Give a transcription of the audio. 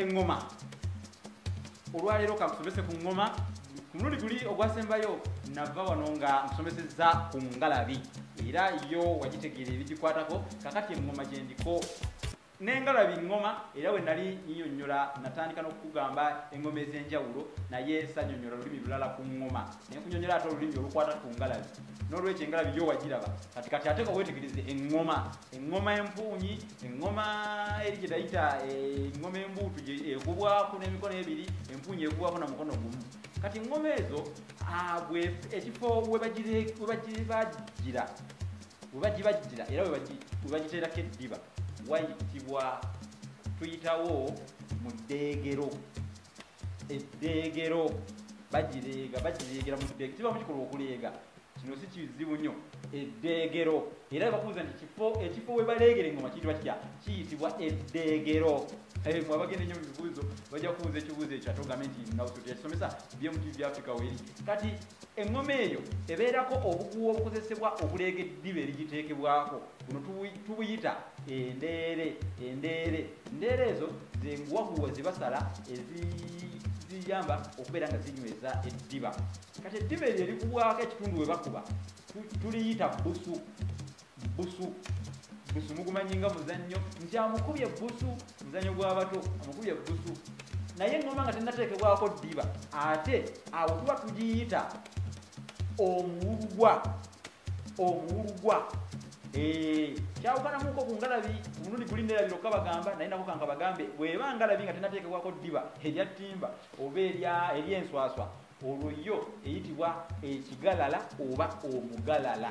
eŋŋoma olwaleero kamusomese ku ŋŋoma ku mulundi guli ogwasembayo nava wano nga musomesezza ku ngalabi era yo wagitegeera ebigikwatako kakati eŋŋoma gyendiko nengalabi ŋŋoma era we nali nyonyola natandika n'okukugamba eŋŋoma ez'enjawulo naye sanyonyola lulimi lulala ku ŋŋoma naye kunyonyola ate olulimi olukwata ku ngalabi n'olwekyo engalabi yo wagiraba kati kati ate ka weetegereze eŋŋoma eŋŋoma empuunyi eŋŋoma eri gye tayita eh, eŋŋoma embuutu ekubwako n'emikono ebiri empuunyi ekubwako na mukono gumu kati eŋŋoma ezo ah, ekifo webagibajira webagibajira era webagiteerako eddiba wayitibwa tuyitawo mu ddeegero eddeegero bagireega bagireegera mu ddeege kiba mukikolwa okuleega kino si kizibu nnyo eddeegero era bakuuza nti kifo ekifo we baleegera engoma kiyitibwa kitya kiyitibwa eddeegero eh, mwe abagenda ennyo mu bibuuzo bajja kubuuza ekibuuzo ekyo ate ogambe nti nawuso teyakisomesa bmtv africa weri kati Eŋŋoma eyo ebeerako obuguwa obukozesebwa okuleega eddiba erigiteekebwako. Buno tubuyita endeere. Endeere endeere ezo ze nguwaguwa ze basala eziyamba okubeera nga zinyweza eddiba. Kati eddiba eryo erikubwako ekitundu we bakuba tuliyita bbusu. busu busu mugumanyi nga muzannyo nti amukubye busu muzannyo gw'abato amukubye busu naye ngoma nga tenateekebwako ddiba ate awo tuba tugiyita omuwulugwa omuwulugwa eh, kyawukanamuko ku ngalabi omulundi guli nerabi lokka bagamba naye nako kanka bagambe bweba ngalabi nga tenateekebwako ddiba erya ttimba oba eryenswaswa olwo yo eyitibwa ekigalala oba omugalala